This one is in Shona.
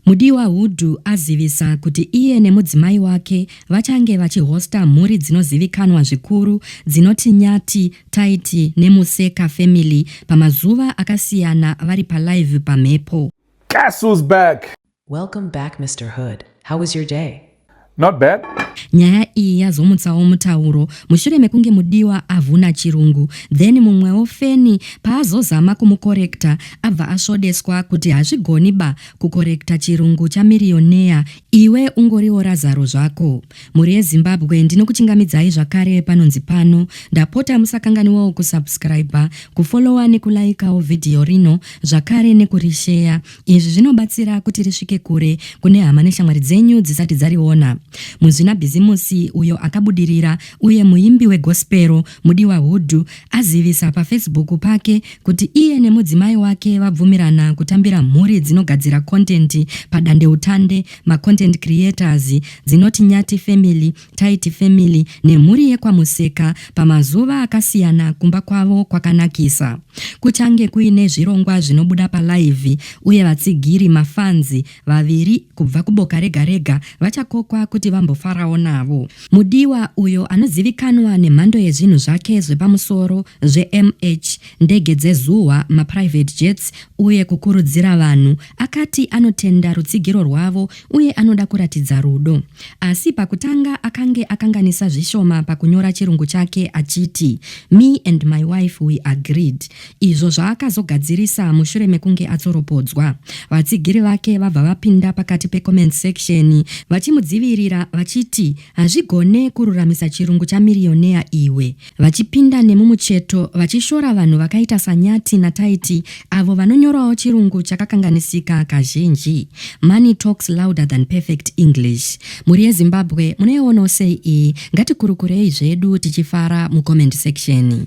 Mudiwa Hudu azivisa kuti iye nemudzimai wake vachange vachihosta mhuri dzinozivikanwa zvikuru dzinoti Nyati, Taiti neMuseka Family pamazuva akasiyana vari palive pamhepo. Castles back! Welcome back Mister Hood, how was your day? Not bad. Nyaya iyi yazomutsawo mutauro mushure mekunge mudiwa avhuna chirungu then mumwewo feni paazozama kumukorekta abva asvodeswa kuti hazvigoni ba kukorekta chirungu chamiriyoneya iwe ungoriwo razaro zvako. Mhuri yeZimbabwe ndinokuchingamidzai zvakare panonzi pano ndapota musakanganiwawo kusubscriber, kufollower nekulaikawo vhidhiyo rino zvakare nekurisheya Izvi zvinobatsira kuti risvike kure kune hama neshamwari dzenyu dzisati dzariona. Muzvinabhizimusi uyo akabudirira uye muimbi wegospero, Mudiwa Hudhu, azivisa paFacebook pake kuti iye nemudzimai wake vabvumirana kutambira mhuri dzinogadzira kontenti padandeutande, maContent Creators, dzinoti Nyati Family Taiti family nemhuri yekwaMuseka pamazuva akasiyana kumba kwavo kwakanakisa. Kuchange kuine zvirongwa zvinobuda palive uye vatsigiri, mafanzi, vaviri kubva kuboka rega rega vachakokwa kuti vambofarawo navo. Mudiwa, uyo anozivikanwa nemhando yezvinhu zvake zvepamusoro zveMH, ndege dzezuwa, maprivate jets uye kukurudzira vanhu, akati anotenda rutsigiro rwavo uye anoda kuratidza rudo. Asi pakutanga akange akanganisa zvishoma pakunyora chirungu chake achiti me and my wife we agreed, izvo zvaakazogadzirisa mushure mekunge atsoropodzwa. Vatsigiri vake vabva vapinda pakati pecomment section vachimudzivirira vachiti hazvigone kururamisa chirungu chamiriyonea iwe, vachipinda nemumucheto vachishora vanhu vakaita saNyati naTaiti avo vanonyorawo chirungu chakakanganisika kazhinji. Money talks louder than perfect English. Mhuri yeZimbabwe munoionawo sei iyi? Ngatikurukurei zvedu tichifara mucomment section.